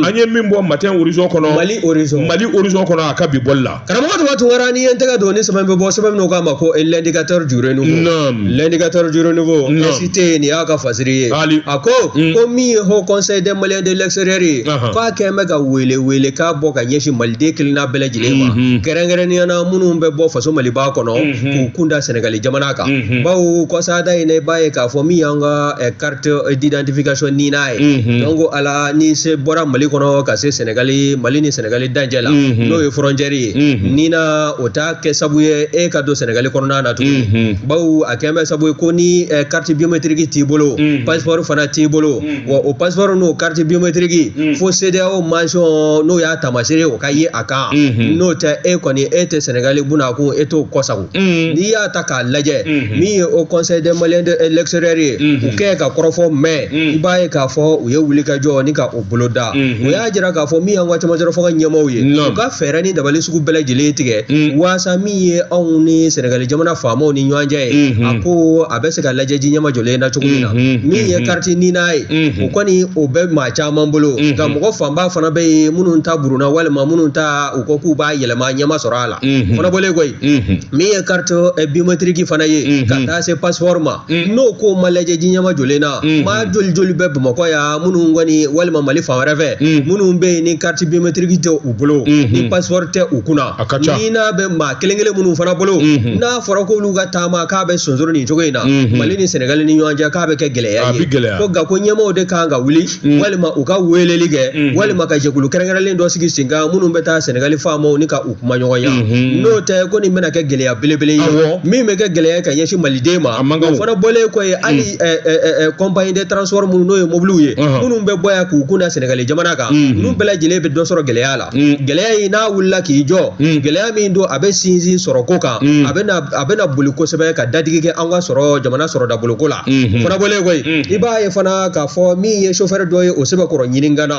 an ye min bɔ matin horizon kɔnɔ Mali horizon Mali horizon kɔnɔ a ka bi bɔli la karamɔgɔ Daba Tunkara n'i ye n tɛgɛ don ni sɛbɛn bɛ bɔ sɛbɛn min k'a ma ko l'indicateur du renouveau naam l'indicateur du renouveau SIT nin y'a ka fasiri ye a ko ko min ye haut conseil des maliens de l'extérieur ye k'a kɛlen bɛ ka wele wele k'a bɔ ka ɲɛsin maliden kelenna bɛɛ lajɛlen ma kɛrɛnkɛrɛnnenya na minnu bɛ bɔ faso maliba kɔnɔ k'u kun da sɛnɛgali jamana kan bawo kɔsada in i b'a ye k'a fɔ min y'an ka carte d'identification NINA ye donc ala ni se bɔra mali kɔnɔ ka se sɛnɛgali mali ni sɛnɛgali dancɛ la n'o ye frontière ye NINA o t'a kɛ sabu ye e ka don sɛnɛgali kɔnɔna na tuguni bawo a kɛlen bɛ sabu ye ko ni carte biométrique t'i bolo passeport fana t'i bolo wa o passeport n'o carte biométrique ye Mm. fo CEDEAO mention n'o y'a taamasere o ka ye a kan Mhm. n'o tɛ e kɔni e tɛ sɛnɛgali bunakun e t'o kɔsago Mm. n'i y'a ta k'a lajɛ Mhm. min ye haut conseil des maliens de l'extérieur ye Mhm. u kɛ ka kɔrɔfɔ mɛn Mm. i b'a ye k'a fɔ u ye wulikajɔ ni ka o bolo da Mhm. o y'a jira k'a fɔ min y'an ka camancɛrɔ fanga ɲɛmaaw ye Non. u ka fɛɛrɛ ni dabali sugu bɛɛ lajɛlen tigɛ Mm. waasa min ye anw ni sɛnɛgali jamana faamaw ni ɲɔgɔn cɛ ye Mhm. a ko a bɛ se ka lajɛ ji ɲɛmajɔlen na cogo min na min ye carte NINA ye o kɔni o bɛ maa caman bolo nka mɔgɔ fanba fana bɛ yen minnu ta burunna walima minnu ta u ko k'u b'a yɛlɛma ɲɛ ma sɔrɔ a la fana bɔlen kɔ ye min ye carte eh, biométrique fana ye ka taa se passeport ma n'o ko ma lajɛ ji ɲɛmajɔlen na maa joli joli bɛ bamakɔ yan minnu kɔni walima mali fan wɛrɛ fɛ minnu bɛ yen ni carte biométrique tɛ u bolo ni passeport tɛ u kunna NINA bɛ maa kelen kelen minnu fana bolo mhm. n'a fɔra k'olu ka taama k'a bɛ sonsoro nin cogo in na mhm. mali ni sɛnɛgali ni ɲɔgɔn cɛ k'a bɛ kɛ gɛlɛya ye ko nka ko ɲɛmaaw de kan ka wuli mhm. walima u ka weleli kɛ walima ka jɛkulu kɛrɛnkɛrɛnlen dɔ sigi sen kan minnu bɛ taa sɛnɛgali faamaw ni ka u kumaɲɔgɔnya n'o tɛ ko nin bɛna kɛ gɛlɛya belebele ye min bɛ kɛ gɛlɛya ka ɲɛsin maliden ma o fana bɔlen kɔ ye hali compagnie de transport minnu n'o ye mobiliw ye minnu bɛ bɔ yan k'u kun da sɛnɛgali jamana kan ninnu bɛɛ lajɛlen bɛ dɔ sɔrɔ gɛlɛya la gɛlɛya in n'a wulila k'i jɔ gɛlɛya min don a bɛ sinsin sɔrɔko kan a bɛna a bɛna boli kosɛbɛ ka dadigi kɛ an ka sɔrɔ jamana sɔrɔ daboloko la fana bɔlen kɔ ye i b'a ye fana k'a fɔ min ye chauffeur dɔ ye o sɛbɛkɔrɔ ɲininkana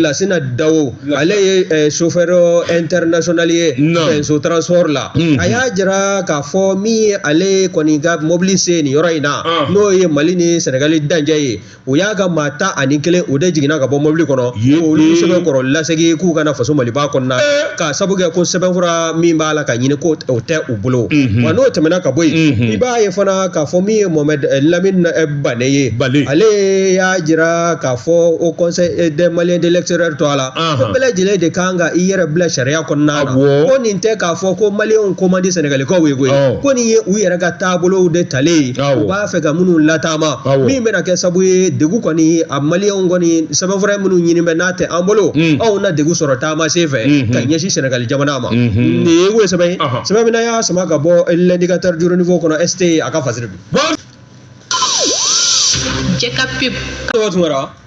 lasina dawo ale ye chauffeur international ye fɛnso transport la a y'a jira k'a fɔ min ye ale kɔni ka mobili se nin yɔrɔ in na n'o ye mali ni sɛnɛgali dancɛ ye u y'a ka maa tan ani kelen o de jiginna ka bɔ mɔbili kɔnɔ olu sɛbɛkɔrɔ lasegin k'u ka na faso maliba kɔnɔna k'a sabu kɛ ko sɛbɛnfura min b'a la ka ɲini ko o tɛ u bolo wa n'o tɛmɛna ka bɔ yen i b'a ye fana k'a fɔ min ye mohamed lamine bane ye ale y'a jira k'a fɔ haut conseil des maliens de l'extérieur tɔgɔ la ko bɛɛ lajɛlen de kan ka i yɛrɛ bila sariya kɔnɔna na ko nin tɛ k'a fɔ ko maliyɛnw ko man di sɛnɛgalikaw ye koyi ko nin ye u yɛrɛ ka taabolow de talen ye fɛ ka minnu lataama min bɛna kɛ sabu ye degun kɔni a maliyɛnw kɔni sɛbɛnfura minnu ɲini bɛ n'a tɛ an bolo mm. anw na degun sɔrɔ taama sen fɛ mm-hmm. ka ɲɛsin sɛnɛgali jamana ma mm-hmm. nin ye o sɛbɛn ye sɛbɛn min y'a sama ka bɔ l'indicateur du renouveau kɔnɔ ST a ka fasiri bi jɛka pep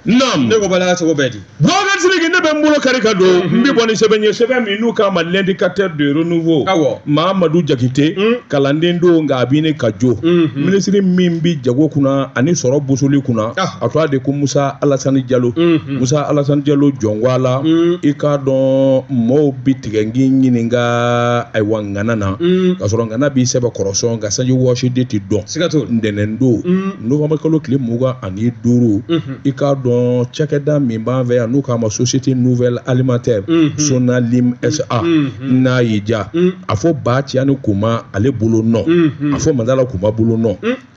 Naam. Ne ko bala ka cogo bɛ di. Boubacar Sidiki ne bɛ n bolo kari ka don n bɛ bɔ ni sɛbɛn ye sɛbɛn min n'u k'a ma l'indicateur de renouveau. Awɔ. Mahamadu Jakite. Hmm. Kalanden don nka a b'i ne ka jo. Hmm, hmm. Minisiri min bɛ jago kunna ani sɔrɔ bosoli kunna. Ah. A tɔgɔ de ko Musa Alasani Jalo. Musa Alasani Jalo jɔngwa la. I k'a dɔn mɔɔw bɛ tigɛ n k'i ɲininka ayiwa ŋana na. Ka sɔrɔ ŋana b'i sɛbɛkɔrɔ sɔn nka sanji wɔsi de tɛ dɔn. Siga t'o la. Ntɛnɛn don. Novembre kalo tile mugan ni duuru i k'a dɔn cakɛda min b'an fɛ yan n'u k'a ma société nouvelle alimentaire sonalim sa n'a y'i ja a fɔ ba tiyani kuma ale bolo nɔ a fɔ madala kuma bolo nɔ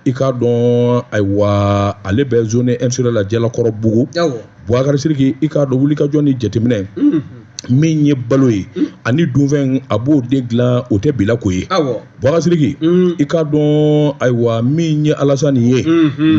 i k'a dɔn ayiwa ale bɛ zone industrielle la jalakɔrɔbugu Bubakari Siriki i k'a dɔn wulikajɔ ni jateminɛ min ye balo ye ani dunfɛn a b'o de dilan o tɛ bila ko ye Bubakari Siriki i k'a dɔn ayiwa min ye Alasani ye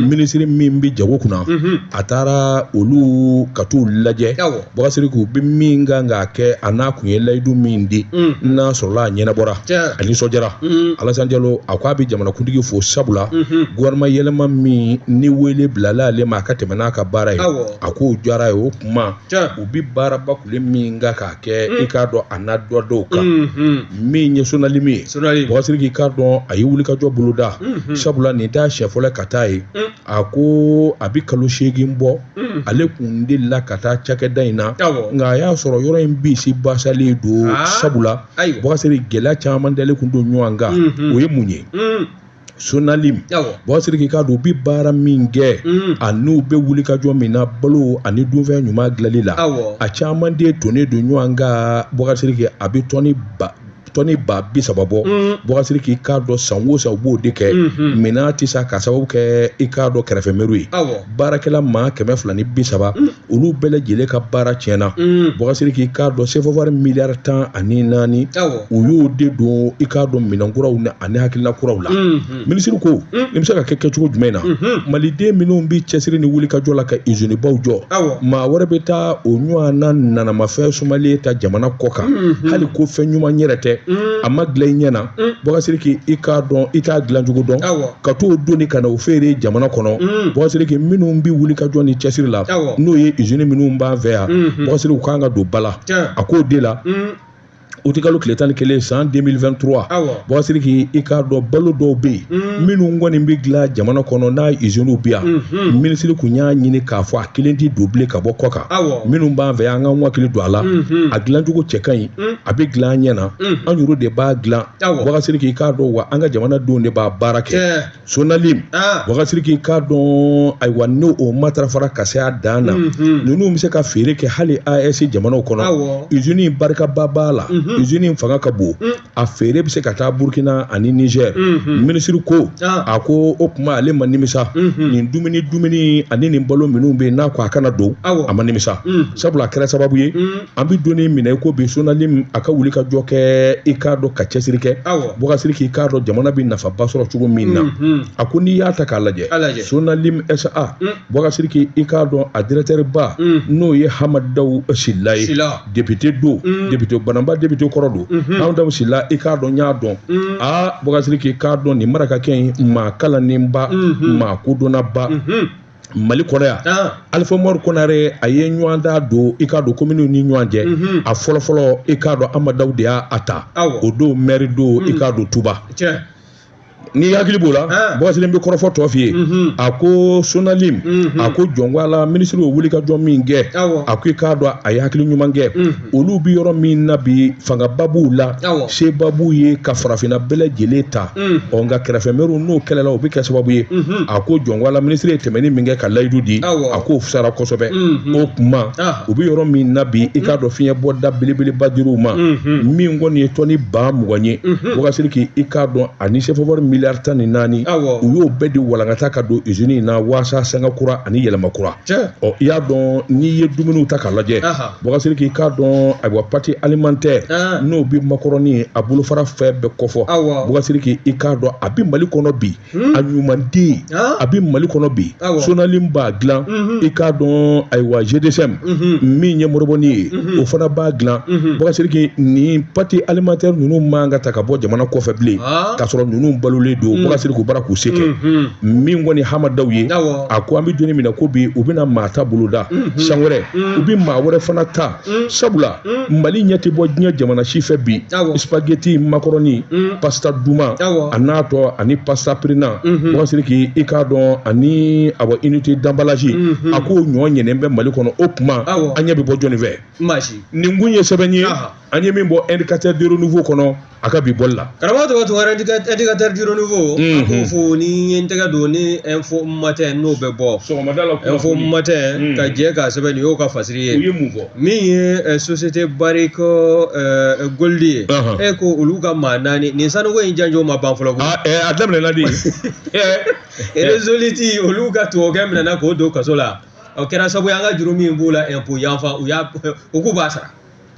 minisiri min bɛ jago kunna a taara olu ka t'u lajɛ Bubakari Siriki u bɛ min kan k'a kɛ an'a kun ye layidu min di n'a sɔrɔla a ɲɛnabɔra a nisɔndiyara mm-hmm. alasan jalo a ko a bɛ jamanakuntigi fo sabula mm-hmm. gouvernement yɛlɛma min ni wele bilala ale ma a ka tɛmɛ n'a ka baara ye a k'o diyara a ye o kuma u bɛ baaraba kule min kan k'a kɛ mm. i k'a dɔn a na dɔ d'o kan mm-hmm. min ye sonalim ye bubakari siriki i k'a dɔn a ye wulikajɔ boloda sabula nin t'a siɲɛ fɔlɔ ka taa ye mm. a ko a bɛ kalo seegin bɔ mm. ale kun delila ka taa cakɛda in na nka a y'a sɔrɔ yɔrɔ in bisi basalen don ah. sabula ayiwa bubakari siriki gɛlɛya caman dalen kun don ɲɔgɔn kan mhm. o ye mun ye mhm. sonalim bubakari siriki i k'a dɔn u bɛ baara min kɛ mhm. ani u bɛ wulikajɔ min na balo ani dunfɛn ɲuman dilanli la a caman de tonnen don ɲɔgɔn kan bubakari siriki a bɛ tɔni ba bi saba bɔ bubakari siriki i k'a dɔn san o san u b'o de kɛ minɛn tɛ san k'a sababu kɛ i k'a dɔn kɛrɛfɛ mɛriw ye baarakɛla maa kɛmɛ fila ni bi saba olu bɛɛ lajɛlen ka baara tiɲɛ na bɔgasiriki i k'a dɔn sefawari miliyari tan ani naani u y'o de don i k'a dɔn minɛn kuraw na ani hakilina kuraw la minisiri ko nin bɛ se ka kɛ kɛcogo jumɛn na maliden minnu bɛ cɛsiri ni wulikajɔ la ka izinibaw jɔ maa wɛrɛ bɛ taa o ɲɔgɔnna nanamafɛn sumalen ta jamana kɔkan hali ko fɛn ɲuman yɛrɛ tɛ a ma dilan i ɲɛ na bɔgasiriki i k'a dɔn i t'a dilancogo dɔn ka t'o doni ka na o feere jamana kɔnɔ bɔgasiriki minnu bɛ wulikajɔ ni cɛsiri la n'o ye izini minnu b'an fɛ yan bɔgasiriki u kan ka don ba la a k'o de la utikalo tile tan ni kelen san deux mille vingt-trois bɔgasiriki i k'a dɔn balo dɔw bɛ yen minnu kɔni bɛ dilan jamana kɔnɔ n'a iziniw bɛ yan minisiri tun y'a ɲini k'a fɔ a kelen tɛ don bilen ka bɔ kɔkan minnu b'an fɛ yan an ka hakili don a la a dilancogo cɛ ka ɲi mm. a bɛ dilan an ɲɛ na mm. an yɛrɛ de b'a dilan bɔgasiriki i k'a dɔn wa an ka jamanadenw de b'a baara kɛ sonalim ah. bɔgasiriki i k'a dɔn ayiwa n'o matarafara ka se a dan na mm-hmm. ninnu bɛ se ka feere kɛ hali aes jamanaw kɔnɔ izini barikaba b'a la mm-hmm. izini fanga ka bon mm. a feere bɛ se ka taa burukina ani nizɛr mm-hmm. minisiri ko ah. a ko o kuma ale ma nimisa nin dumuni dumuni ani nin balo minnu bɛ n'a ko a kana don a ma nimisa sabula a kɛra sababu ye an bɛ don min na i ko bi sonalim a ka wulikajɔ kɛ i k'a dɔn ka cɛsiri kɛ bɔgasiriki i k'a dɔn jamana bɛ nafaba sɔrɔ cogo min na a ko n'i y'a ta k'a lajɛ sonalim sa bɔgasiriki i k'a dɔn a dirɛkitɛriba n'o ye hamadaw sila ye depite don depite banamba depite kɔrɔ don hamadaw sila i k'a dɔn y'a dɔn aa bɔgasiriki i k'a dɔn nin marakakɛ in maa kalannenba maa kodɔnnaba mali kɔnɔ yan alifa umaru konare a ye ɲɔgɔndan don i k'a dɔn kominiw ni ɲɔgɔn cɛ mhm. a fɔlɔfɔlɔ i k'a dɔn amadaw de y'a ta o don mɛri don i mhm. k'a dɔn tuba n'i hakili b'o la bɔgasiriki n bɛ kɔrɔfɔ tɔ f'i ye mhm. a ko sonalim a ko jɔn ko ala minisiri y'o wulikajɔ min kɛ a ko i k'a dɔn a ye hakili ɲuman kɛ olu bɛ yɔrɔ min na bi fangaba b'u la seba b'u ye ka farafinna bɛɛ lajɛlen ta ɔ nka kɛrɛfɛmɛriw n'o kɛlɛla o bɛ kɛ sababu ye a ko jɔn ko ala minisiri ye tɛmɛni min kɛ ka layidu di a k'o fisara kosɛbɛ o kuma u bɛ yɔrɔ min na bi i k'a dɔn fiɲɛbɔda belebeleba dir'u ma min kɔni ye tɔni ba mugan ye bɔgasiriki i k'a dɔn ani sefawari miliyari tan ni naani u y'o bɛɛ di walankata ka don izini in na waasa sanga kura ani yɛlɛma kura ɔ i y'a dɔn n'i ye dumuniw ta k'a lajɛ bɔgasiriki i k'a dɔn ayiwa pati alimantɛ n'o bɛ makɔrɔni a bolofara fɛn bɛɛ kofɔ bɔgasiriki i k'a dɔn a bɛ mali kɔnɔ bi hmm? a ɲumanden a bɛ mali kɔnɔ bi sonalim b'a dilan i k'a dɔn ayiwa gdcm min ye moribɔni ye o fana b'a dilan bɔgasiriki nin pati alimantɛ ninnu man ka ta ka bɔ jamana kɔfɛ bilen k'a sɔrɔ ninnu balolen don bɔgasiriki u b'a la k'u se kɛ min kɔni hamadaw ye a ko an bɛ don min na ko bi u bɛna maa ta boloda mhm. san wɛrɛ mhm. u bɛ maa wɛrɛ fana ta mhm. sabula mali ɲɛ tɛ bɔ diɲɛ jamana si fɛ bi spaghetti makɔrɔni pasta duman a n'a tɔ ani pasta pirinan wasiri k'i i k'a dɔn ani awa unité d'emballage a ko ɲɔ ɲɛnen bɛ mali kɔnɔ o kuma an ɲɛ bɛ bɔ jɔnni fɛ nin kun ye sɛbɛn ye an ye min bɔ indicateur du renouveau kɔnɔ a ka bi bɔli la karamɔgɔ tɔgɔ tɔgɔ indicateur du renouveau an k'o fo ni n ye n tɛgɛ don ni info matin n'o bɛ bɔ sɔgɔmada la info matin ka jɛ k'a sɛbɛn nin y'o ka fasiri ye u ye mun fɔ min ye société barrick gold ye e ko olu ka maa naani nin sanuko in janjo ma ban fɔlɔ koyi a daminɛna de resolute olu ka tubabukɛ minɛna k'o don kaso la o kɛra sabu an ka juru min b'u la impôt yanfa u y'a u k'u b'a sara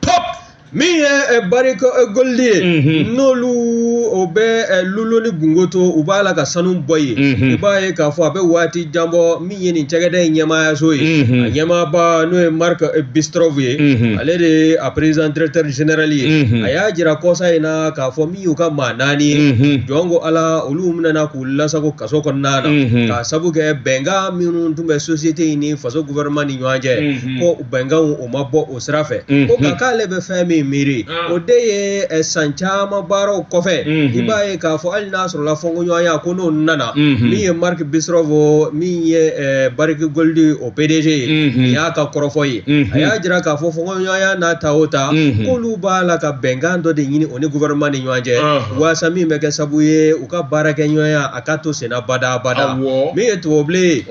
top min ye eh, barrick eh, gold ye Mhm. n'olu o bɛ eh, loulo ni gounkoto u b'a la ka sanu bɔ yen Mhm. i b'a ye k'a fɔ a bɛ waati jan bɔ min ye nin cakɛda in ɲɛmaayaso ye Mhm. a ɲɛmaaba n'o ye mark eh, bristow ye Mhm. ale de ye a président directeur général ye Mhm. a y'a jira kɔsa in na k'a fɔ min y'u ka maa naani ye Mhm. jɔn ko ala olu minɛna k'u lasago kaso kɔnɔna na Mhm. k'a sabu kɛ bɛnkan minnu tun bɛ société in ni faso gouvernement ni ɲɔgɔn cɛ Mhm. ko bɛnkanw o ma bɔ o sira fɛ ko nka k'ale bɛ fɛn min miiri o de ye san caman baaraw kɔfɛ i b'a ye k'a fɔ hali n'a sɔrɔla fɔnkɔɲɔgɔnya ko n'o nana min ye mark bristow min ye barrick gold o pdg ye nin y'a ka kɔrɔfɔ ye a y'a jira k'a fɔ fɔnkɔɲɔgɔnya n'a ta o ta k'olu b'a la ka bɛnkan dɔ de ɲini o ni gouvernement ni ɲɔgɔn cɛ waasa min bɛ kɛ sabu ye u ka baarakɛɲɔgɔnya a ka to senna badabada min ye tubabubilen ye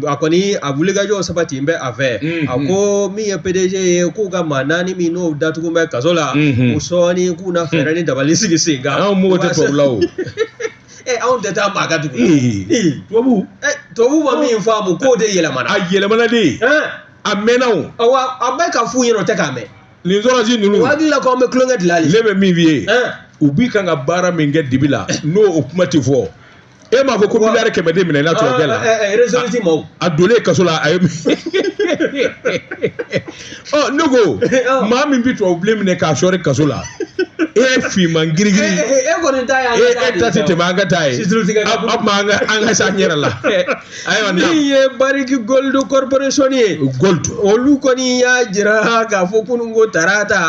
a kɔni a wulikajɔ sabatinen bɛ a fɛ mm-hmm. a ko min ye pdg ye k'u ka maa naani minnu datugu bɛ kaso la mm-hmm. u sɔɔni k'u na fɛɛrɛ ni dabali sigi sen kan anw mɔgɔ tɛ tubabu la o ee anw tɛ taa maa ka dugu la tubabu tubabu ma min faamu k'o de yɛlɛmana a yɛlɛmana de a mɛnna o awa a bɛ ka f'u ɲɛna o tɛ k'a mɛn nin sɔrɔsi ninnu u hakili la ko an bɛ tulonkɛ dilan de ne bɛ min f'i ye u bi kan ka baara min kɛ dibi la n'o o kuma tɛ fɔ e m'a fɔ ko miliyari kɛmɛ de minɛna tubabu la resolute maa donlen kaso la a ye ɔ ne ko maa min bɛ tubabubilen minɛ k'a sɔri kaso la e ye finman girigiri e kɔni ta ye e ta tɛ tɛmɛ an ka taa ye a tuma an ka an ka sa an yɛrɛ la ayiwa min ye barrick gold corporation ye gold olu kɔni y'a jira k'a fɔ kunun ko tarata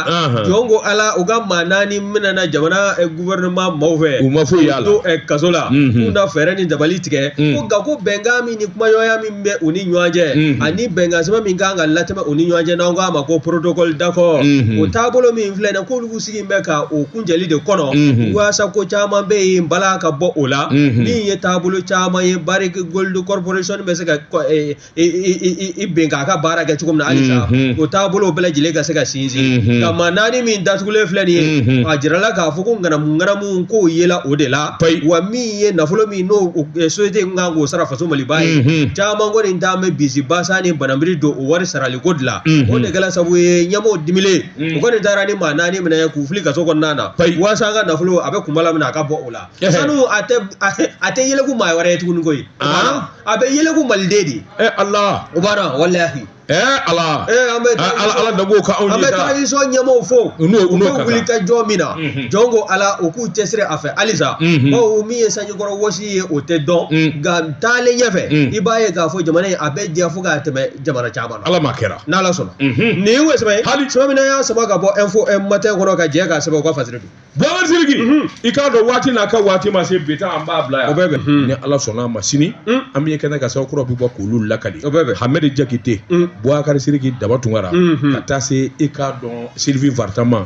jɔn ko ala u ka maa naani minɛna jamana eh, gouvernement maaw fɛ u ma foyi y'a la to eh, kaso la mhm. k'u na fɛɛrɛ ni dabali tigɛ mhm. ko nka ko bɛnkan min ni kumaɲɔgɔnya min bɛ u ni ɲɔgɔn cɛ mhm. ani bɛnkan sɛbɛn min kan ka latɛmɛ u ni ɲɔgɔn cɛ n'an k'a ma ko protocole d'accord o taabolo min filɛ nin ye k'olu sigi bɛ ka o kuncɛli de kɔnɔ waasa ko caman bɛ yen balan ka bɔ o la min ye taabolo caman ye Barrick Gold Corporation bɛ se ka bɛn k'a ka baara kɛ cogo min na halisa o taabolo bɛɛ lajɛlen ka se ka sinsin ka maa naani min datugulen filɛ nin ye a jirala k'a fɔ ko ŋanamuŋanamu ko yela o de la wa min ye nafolo min n'o société kan k'o sara faso maliba ye caman kɔni dalen bɛ bisimilabasa ni banbri don o wari saraliko de la o de kɛla sabu ye ɲɛmɔgɔ di u kɔni taara ni maa naani minɛ k'u fili kaso kɔnɔna na Ayi. waasa an ka nafolo a bɛ kunbala min a ka bɔ o la Ehe. sanu a tɛ a tɛ- a tɛ yɛlɛku maa wɛrɛ ye tuguni koyi Ah. a bɛ yɛlɛku maliden de ye ala o b'a dɔn walahi ɛ ala ee an bɛ A- ala ala danbo ka anw an ye bɛ transition ɲɛmɔgɔw fo u n'o u n'o bɛ ka wuli ka jɔ min na Mhm. jɔn ko ala u k'u cɛsiri a fɛ halisa Mhm. bawo min ye sanjikɔrɔ wɔsi ye o tɛ dɔn Mm. nka taalen ɲɛfɛ Mm. i b'a ye k'a fɔ jamana in a bɛ diya fo k'a tɛmɛ jamana caman ala m'a kɛra n'ala sɔnna nin ye wo sɛbɛn ye hali sɛbɛn min y'a sama ka bɔ info matin kɔnɔ ka jɛ k'a sɛbɛn u ka fasiri don buwakari siriki i k'a dɔn waati n'a ka waati ma se bi ta an b'a bila yan o bɛɛ bɛ ni ala sɔnna a ma sini an bɛ kɛnɛ ka sababu kura bɛ bɔ k'olu lakali o bɛɛ bɛ hamɛdi jakite buwakari siriki daba tunkara ka taa se i k'a dɔn Sylvie Vartan ma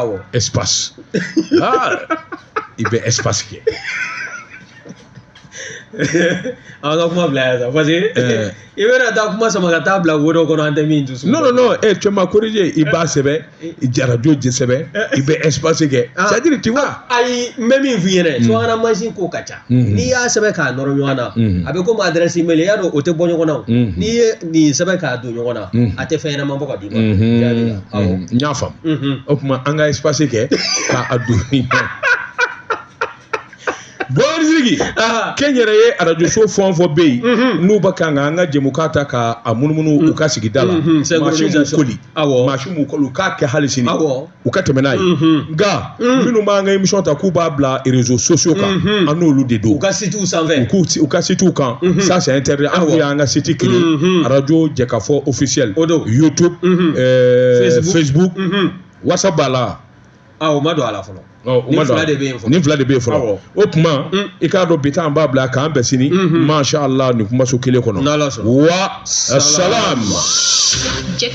awɔ espace aa i bɛ espace kɛ an ka kuma bila yan sa parce que i bɛna taa kuma sama ka taa bila wo dɔ kɔnɔ an tɛ min dusu. non non non eh tu m'as corrigé i b'a sɛbɛn radio jɛ sɛbɛn i bɛ espace kɛ c'est à dire tu vois. ayi n bɛ min f'i ɲɛna subahana mansin ko ka ca. Mm-hmm. n'i y'a sɛbɛn k'a nɔrɔ ɲɔgɔn na mm-hmm. a bɛ komi adresse mail i y'a dɔn o tɛ bɔ ɲɔgɔn na mm-hmm. n'i ye nin sɛbɛn k'a don ɲɔgɔn na a tɛ fɛn ɲɛnama bɔ ka d'i ma n y'a faamu o tuma an ka espace kɛ k'a don ni ɲɔgɔn buwakari siriki ah. kɛnyɛrɛye arajoso fɛn fɔ bɛ yen n'u bɛ kan ka an ka jɛmukan ta ka a munumunu u ka sigida la mansin b'u koli mansin b'u koli u k'a kɛ hali sini u ka tɛmɛ n'a ye nka minnu b'an ka émission ta k'u b'a bila réseaux sociaux kan an n'olu de don u ka sitiw sanfɛ u k'u u ka sitiw kan ça c'est interdit an kun y'an ka site créé radio jɛkafɔ officiel o don YouTube euh, Facebook. Facebook WhatsApp b'a la ah o ma don a la fɔlɔ Ɔ, o Nin ma don fila a la. de bɛ yen fɔlɔ. nin fila de bɛ yen fɔlɔ Awɔ. o tuma i k'a dɔn bi ta an b'a bila k'an bɛn sini masha Allah nin kumaso kelen kɔnɔ N'Ala sɔnna. wa salam. Jɛka